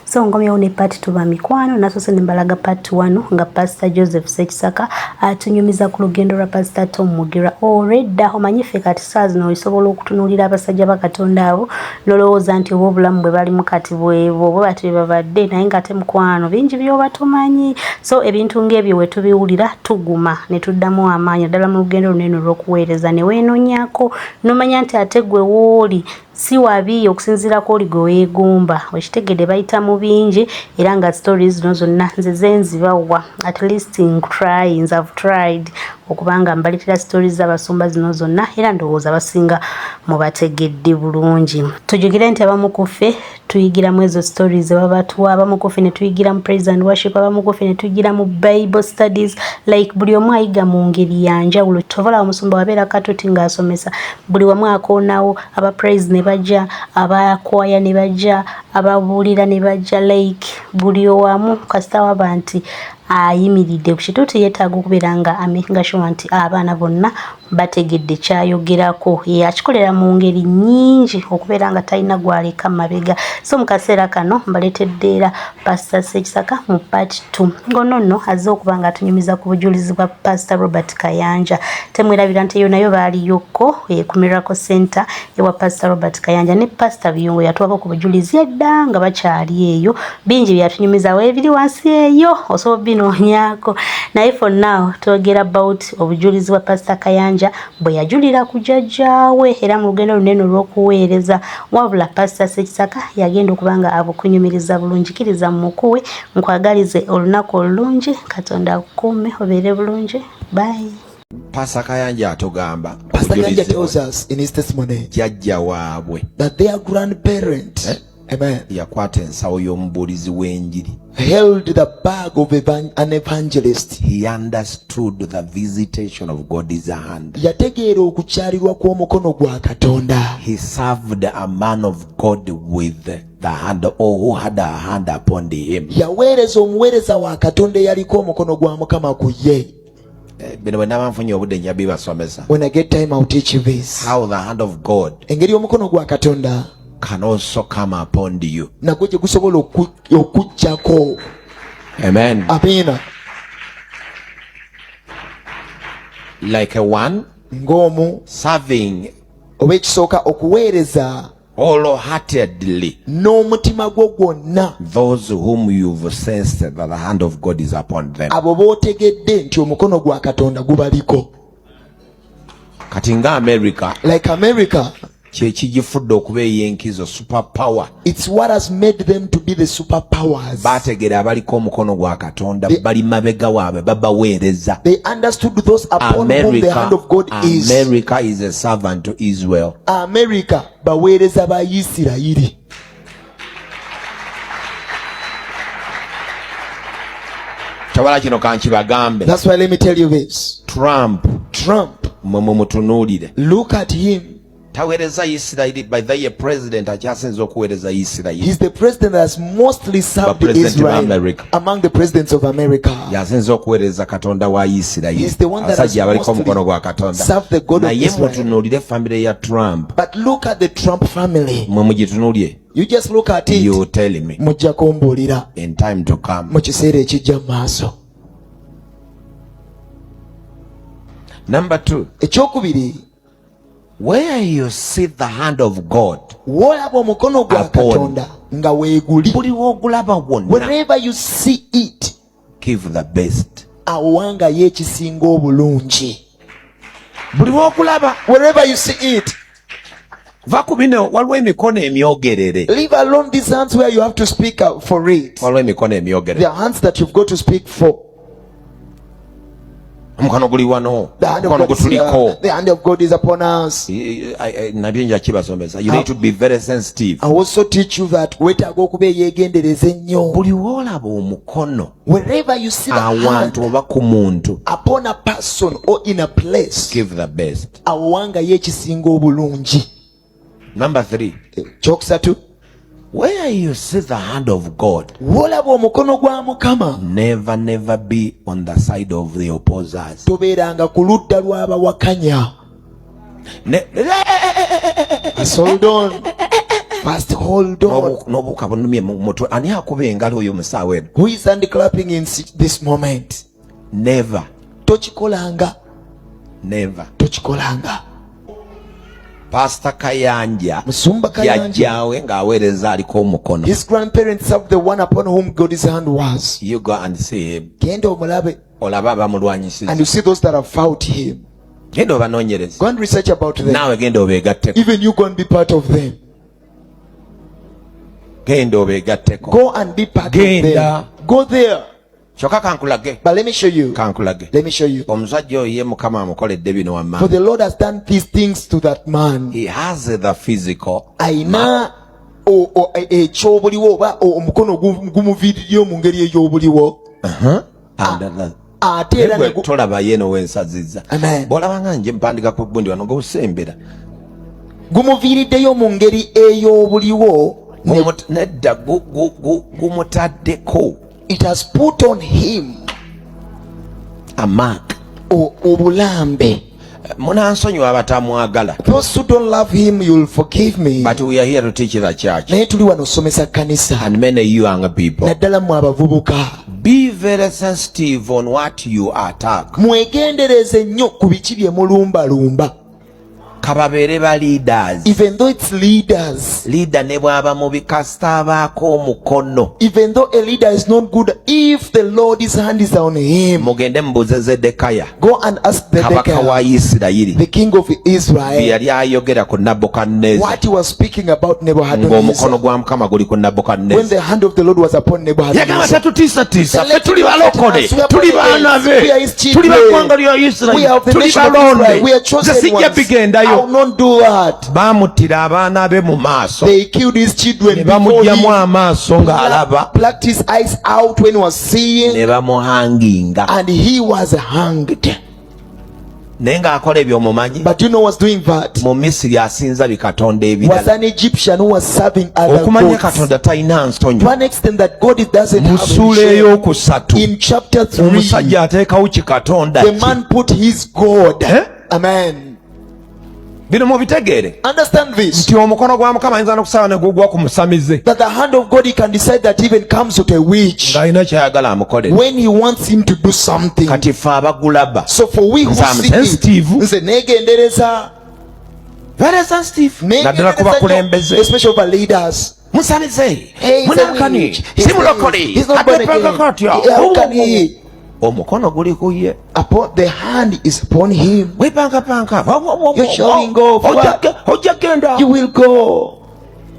so ngomyewo ne part tuba mikwano nasose nembalaga part wano nga pastor joseph sekisaka atunyumiza ku lugendo lwa pastor tom mugira oredda omanyi ffe kati saa zino olisobola okutunuulira abasajja ba katonda abo nolowooza nti oba obulamu bwe balimu kati bwebo bwe bati bebabadde naye nga ate mukwano bingi byoba tumanyi so ebintu ng'ebyo we tubiwulira tuguma ne tuddamu amaanyi naddala mu lugendo luno eno olw'okuweereza ne weenonyako nomanya nti ate gwe wooli si wabi okusinziira ku oli gwe weegomba okitegedde bayita mu bingi era nga story zino zonna nze zenzibawa at least ncryings have tried okubanga mbaletera story z'abasumba zino zonna era ndowooza basinga mubategedde bulungi tujukire nti abamu ku ffe tuyigira mu ezo stories zebaba tuwa abamu kufe ne tuyigira mu praise and worship abamu kufe ne tuyigira mu bible studies like buli omu ayiga mu ngeri ya njawulo tovola omusumba wabeera katuti ng'asomesa buli wamu akoonawo aba praise ne bajja abakwaya ne bajja ababuulira ne bajja like buli owamu kasita waba nti ayimiridde ku kituuti yeetaaga okubeera nga amakinga sure nti abaana bonna bategedde kyayogerako yakikolera mu ngeri nnyingi okubeera nga talina gwaleka mabega so mu kaseera kano mbaleetedde era pasita sekisaka mu part t ngono nno azze okuba nga atunyumiza ku bujulizi bwa pasita robert kayanja temwerabira nti eyo nayo baaliyokko eh, ku miracle center ewa pasita robert kayanja ne pasita biyungo yatuwako ku bujulizi edda nga bakyali eyo bingi byeyatunyumizawo ebiri wansi eyo osobola binoonyako naye for now twogera about obujulizi bwa pasita kayanja bwe yajulira ku jajjaawe era mu lugendo lunene olw'okuweereza wabula pasita sekisaka yagenda okuba nga abukunyumiriza bulungi kiriza mu mukuwe nkwagalize olunaku olulungi katonda akukuume obeere bulungi bayi Pastor Kayanja atogamba Pastor Kayanja tells us in his testimony jajja waabwe that their grandparent eh? Amen. yakwata ensawo y'omubuulizi w'enjiri held the bag of an evangelist he understood the visitation of god's hand yategeera okukyalirwa kw'omukono gwa katonda he served a man of god with the hand or oh, who had a hand upon him yaweereza omuweereza wa katonda eyaliko omukono gwa mukama ku ye Eh, bino bwenaba nfunye obudde nja bibasomesa when i get time i'll teach you this how the hand of god engeri omukono gwa katonda can also come upon you nagwo gye gusobola okujjako amen amina like a one ng'omu serving oba ekisooka okuweereza wholeheartedly n'omutima gwo gwonna those whom you've sensed that the hand of God is upon them abo bootegedde nti omukono gwa katonda gubaliko kati nga america like america kyekigifudde okuba eyenkizo super power its what has made them to be the super powers bategera abaliko omukono gwa katonda bali mabega waabwe babaweereza they understood those upon america, whom the hand of god is america is a servant to israel amerika baweereza ba isirayiri tawala kino kankibagambe thats why let me tell you this trump trump mwe mumutunuulire look at him taweereza isirayiri by the ye president akyasinza okuweereza isirayiri is the president has mostly served israel among the presidents of America. Yasinze okuweereza Katonda wa Isirayiri. Abasajja abaliko omukono gwa Katonda. Naye mutunuulire famire ya Trump. But look at the Trump family. Mwe mugitunuulye. You just look at it. You tell me. Mujja kumbuulira. In time to come. Mu kiseera ekijja mu maaso. Number two. Ekyokubiri. Where you see the hand of God. Wolaba omukono gwa Katonda nga weeguli. Buli w'ogulaba wonna. Wherever you see it. Give the best. Awangayo ekisinga obulungi. Buli w'ogulaba. Wherever you see it. Va ku bino waliwo emikono emyogerere. Leave alone these hands where you have to speak for it. Waliwo emikono emyogerere. The hands that you've got to speak for. omukwano guli wano omukwano gutuliko nabye nja kibasomesa you need to be very sensitive i also teach you that wetaaga okuba eyegendereza ennyo buli woolaba omukono wherever you see awantu oba ku muntu upon a person or in a place give the best awo wangayo ekisinga obulungi number 3 kyokusatu where you see the hand of god wolaba omukono gwa mukama never never be on the side of the opposers tobeeranga ku ludda lw'abawakanya asoldon First hold on. Nobuka bunumye mutwe ani akuba engalo oyo musaawe. Who is hand clapping in this moment? never tokikolanga never tokikolanga Pastor Kayanja Musumba Kayanja nga awereza aliko omukono His grandparents have the one upon whom God's hand was You go and see him Genda omulabe olaba abamulwanyisiza And you see those that have fought him Genda obanonyereze Go and research about them Nawe genda obegatteko Even you go and be part of them Genda obegatteko Go and be part genda. of them Go there kyoka kankulage but let me show you kankulage let me show you omusajja oyo ye mukama amukoledde bino wamma for the lord has done these things to that man he has the physical aina ekyobuliwo e, e, oba omukono gumuviiriyo mu ngeri ey'obuliwo uh-huh. ah, ate era tolaba yeno wensaziza bwolabanga nje mpandika ku bundi wano gobusembera gumuviiriddeyo mu ngeri ey'obuliwo nedda gumutaddeko it has put on him a mark obulambe munansonyiwa abatamwagala those who don't love him you'll forgive me but we are here to teach the church naye tuli wano okusomesa kanisa and many young people naddala mu abavubuka be very sensitive on what you attack mwegendereze nnyo ku biki bye mulumbalumba kababeere ba leaders even though it's leaders leader ne bwaba mubi kasita abaako omukono even though a leader is not good if the lord's hand is on him mugende mubuuze zedekaya go and ask the kabaka wa isirayiri the king of israel bye yali ayogera ku nabukadnezar what he was speaking about nebuchadnezzar ng'omukono gwa mukama guli ku nabukadnezar when the hand of the lord was upon nebuchadnezzar yagamba tetutiisatiisa fe tuli balokole tuli baana be tuli baggwanga lya isirairi tuli balonde nze sijja bigendayo baamuttira abaana be mu maaso ne bamugyamu amaaso ng'alaba ne bamuhanginga naye ng'akola ebyo omumanyi But you know was doing that. Mu Misiri asinza bikatonda ebirala. Was an Egyptian who was serving other gods. Okumanya Katonda talina nsonyi. To an extent that God it doesn't have a shame. Mu sura ey'okusatu. In chapter 3. Omusajja ateekawo kikatonda. The man put his God. Eh? Amen. bino mubitegeere nti omukono gwa mukama ayinza nokusaba negugwa ku musamize ng'alina kyayagala amukolere seem to do something kati fe abagulaba so for we who see nze negendereza very sensitive naddala ku bakulembeze especially over leaders musamize munankani si mulokole ateprogakotyo omukono guli ku ye wepankapanka ojja genda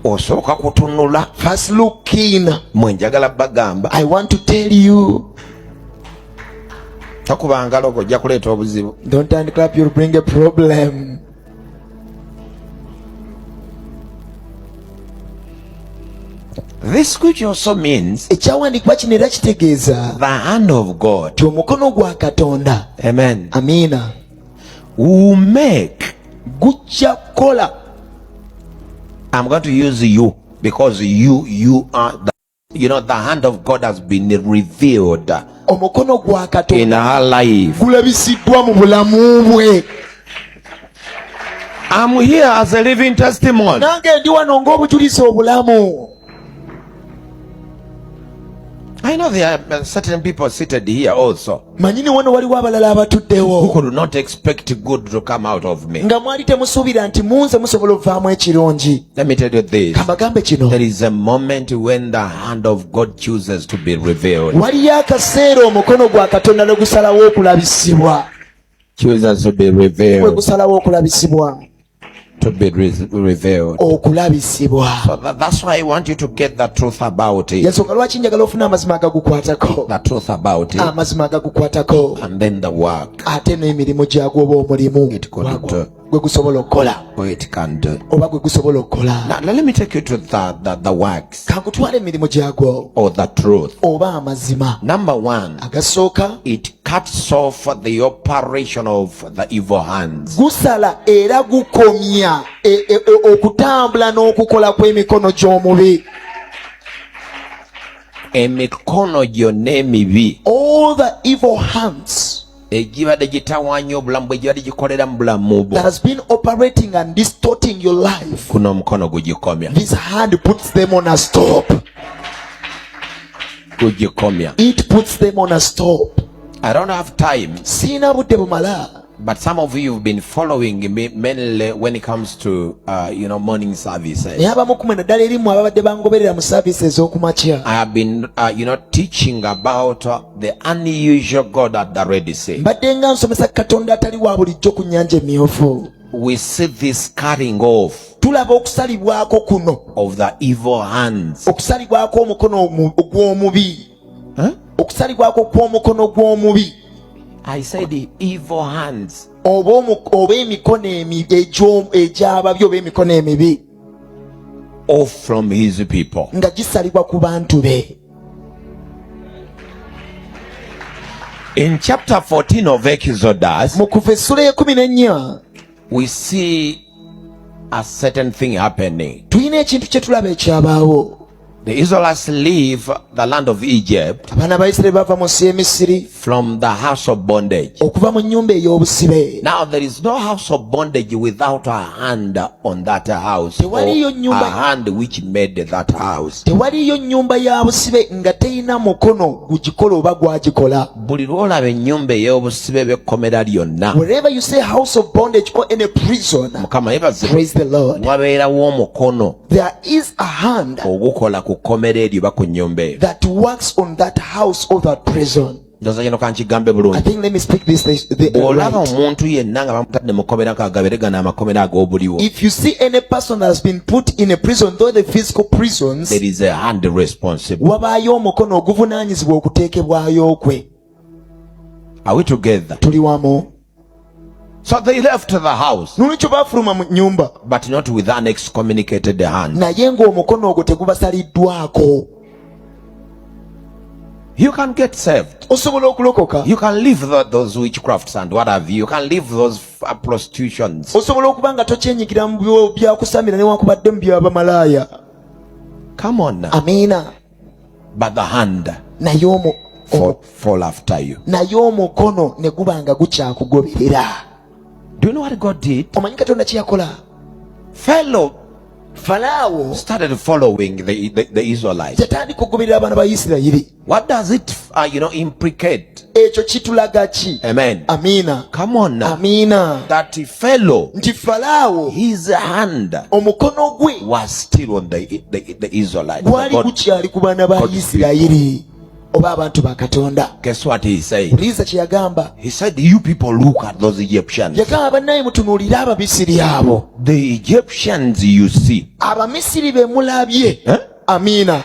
osooka kutunula first look in mwe njagala bagamba i want to tell you takuba ngalo go ojja kuleeta obuzibu don't hand clap you'll bring a problem This scripture also means ekyawandiikibwa kino era kitegeeza the hand of God ti omukono gwa katonda amen amiina umek gujja kukola am going to use you because you you are the, you know the hand of god has been revealed omukono gwa katonda gulabisiddwa mu bulamu bwe I'm here as a living testimony. Nange ndi wano ng'obujulizi obulamu. I know there are uh, certain people seated here also. Manyini wano waliwo abalala abatuddewo. Who could not expect good to come out of me. Nga mwali temusuubira nti munze musobola ovaamu ekirungi. Let me tell you this. Kambagambe kino. There is a moment when the hand of God chooses to be revealed. Waliyo akaseera omukono gwa Katonda ne gusalawo okulabisibwa. Chooses to be revealed. Gwe gusalawo okulabisibwa. to be revealed. okulabisibwa so that, that's why i want you to get the truth about it yensonga lwaki njagala ofuna amazima agagukwatako the truth about it amazima agagukwatako and then the work ate n'emirimu gyagwo oba omulimu gwe gusobola okukola oba gwe gusobola okukola let me take you to the, the, the works kagutwala emirimu gyagwo or the truth oba amazima number one agasooka it cuts off the operation of the evil hands gusala era gukomya e, e, e, okutambula n'okukola kw'emikono gy'omubi emikono gyonna emibi all the evil hands egibadde gitawaanya obulamu bwe gibadde gikolera mu bulamu bwo kuno omukono gugikomya gugikomya siina budde bumala But some of you have been following me mainly when it comes to uh, you know morning services. I have been uh, you know teaching about uh, The unusual God at the Red Sea. Mbadde nga nsomesa Katonda atali wa bulijjo ku nnyanja emyufu. We see this cutting off tulaba okusalibwako kuno of the evil hands okusalibwako omukono ogw'omubi huh? okusalibwako kw'omukono gw'omubi i said the evil hands oba oba emikono egy'ababi oba emikono emibi of from his people nga gisalibwa ku bantu be In chapter 14 of Exodus, mu kuva essula y'ekumi n'ennya we see a certain thing happening. tulina ekintu kye tulaba ekyabaawo The Israelites leave the land of Egypt abaana ba isirayiri bava mu nsi y'emisiri From the house of bondage. okuva mu nnyumba ey'obusibe Now there is no house of bondage without a hand on that house or Tewaliyo nnyumba- a hand which made that house. tewaliyo nnyumba ya busibe nga terina mukono gugikola oba gwagikola Buli lw'olaba ennyumba ey'obusibe b'ekkomera lyonna wherever you say house of bondage or any prison Mukama yebaze praise the lord wabeerawo omukono There is a hand ogukola ku kkomera eryo oba ku nnyumba eyo that works on that house or that prison. ndoza kino kankigambe bulungibwolaba omuntu yenna nga bamutadde mu kkomera kagabere gano amakomera ag'obuliwo wabaayo omukono oguvunanyizibwa okuteekebwayo kwe tuli wamu So they left the house. Nolwekyo baafuluma mu nyumba. But not with an excommunicated hand. Naye ng'omukono ogwo tegubasaliddwako. You can get saved. Osobola okulokoka. You can leave the, those witchcrafts and what have you. You can leave those uh, prostitutions. Osobola okuba nga tokyenyigira mu byakusamira newankubadde mu byabamalaaya. Come on now. Amina. bagahanda naye omu fall after you naye omukono ne guba nga gukyakugoberera do you know what god did omanyi katonda kyeyakola fellow falaawo started following the, the, the israelites yatandika okugoberera abaana ba isirayiri what does it uh, you know implicate ekyo kitulaga ki amen amina come on now amina that fellow nti falaawo his hand omukono gwe was still on the, the, the israelites gwali gukyali ku baana ba isirayiri oba abantu ba katonda puliza kye yagamba yagamba bannaye mutunuulire abamisiri abo abamisiri be mulabye eh? amiina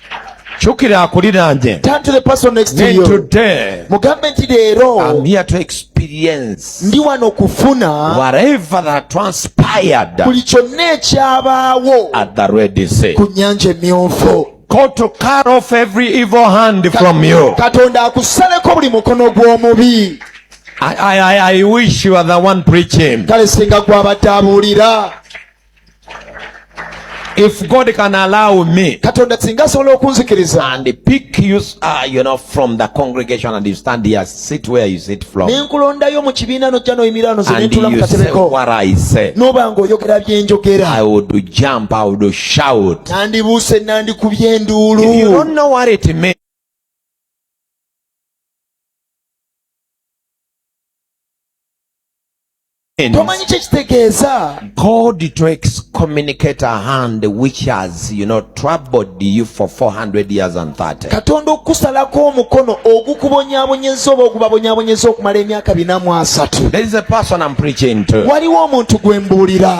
kyukira akuliraanye nentudde mugambe nti leero ndi wano kufuna buli kyonna ekyabaawo ku nyanja emyufu God to cut off every evil hand from you. Katonda akusaleko buli mukono gw'omubi. I, I, I wish you are the one preaching. Kale singa gwabadde abuulira. If God can allow me, katonda singa asobola okunzikiriza and pick you, uh, you know, from the congregation and you stand here, sit where you sit from, nenkulondayo mu kibiina nojja noyimirira noze and nentula mu you say katebeko what I say, noba nga oyogera byenjogera I would jump, I would shout. nandibuuse nandikubye If you enduulu don't know what it means, tomanyi kyekitegeeza god to excommunicate a hand which has you know troubled you for 400 years and 30 katonda okukusalako omukono ogukubonyabonyeza oba ogubabonyabonyeza okumala emyaka bina mu asatu there is a person i'm preaching to waliwo omuntu gwe mbuulira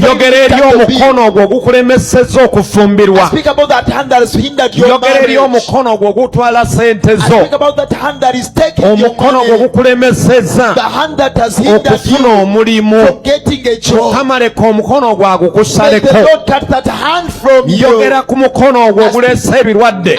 njogera eri omukono ogwo ogukulemeseza okufumbirwa njogera eri omukono ogwo ogutwala sente zo omukono ogwo ogukulemeseza okufuna omulimu mukama leka omukono ogwo agukusaleko njogera ku mukono ogwo ogulesa ebirwadde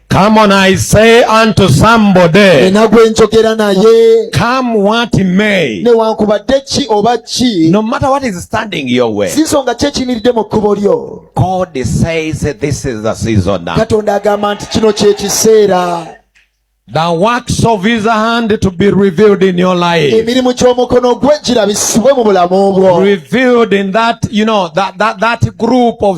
Come on, I say unto somebody. Nina gwe njogera naye. Come what may. Newankubadde ki oba ki. No matter what is standing your way. Si nsonga ki ekiyimiridde mu kkubo lyo. God says this is the season now. Katonda agamba nti kino kye kiseera. The works of his hand to be revealed in your life. Emirimu ky'omukono gwe girabisibwe mu bulamu bwo. Revealed in that, you know, that, that, that group of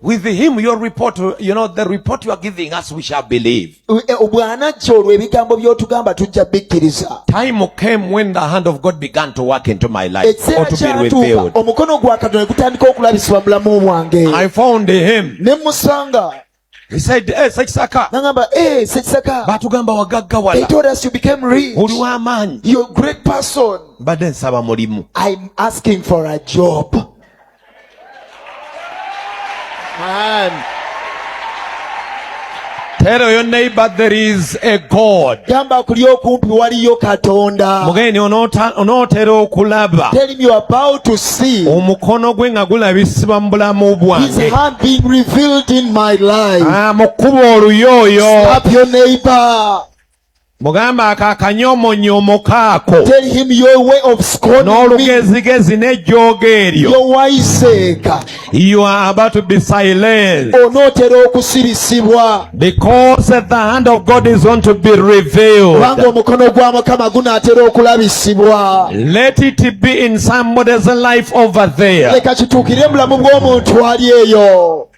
With him your report, you know, the report you are giving us we shall believe. Eh, Obwanajja olwo ebigambo by'otugamba tujja bikkiriza. Time came when the hand of God began to work into my life or to be revealed. Omukono gwa Katonda ne gutandika okulabisibwa mu bulamu bwange. I found him. Ne musanga. He said, eh, Sekisaka. Nangamba, eh, Sekisaka. Batugamba wagaggawala. They told us you became rich. Oli w'amaanyi. You're a great person. Mbadde nsaba mulimu. I'm asking for a job. And Tell your neighbor there is a God. Gamba kuli okumpi waliyo Katonda. Mugeni onootera okulaba. Tell him you are about to see. Omukono gwe nga gulabisibwa mu bulamu bwange. His hand being revealed in my life. Ah, mu kkubo oluyo oyo. Slap your neighbor. mugambe ako akanyomonyomo kaako n'olugezigezi n'ejjooga eryo onootera okusirisibwa kubanga omukono gwa mukama gunaatera okulabisibwa leka kituukire mu bulamu bw'omuntu ali eyo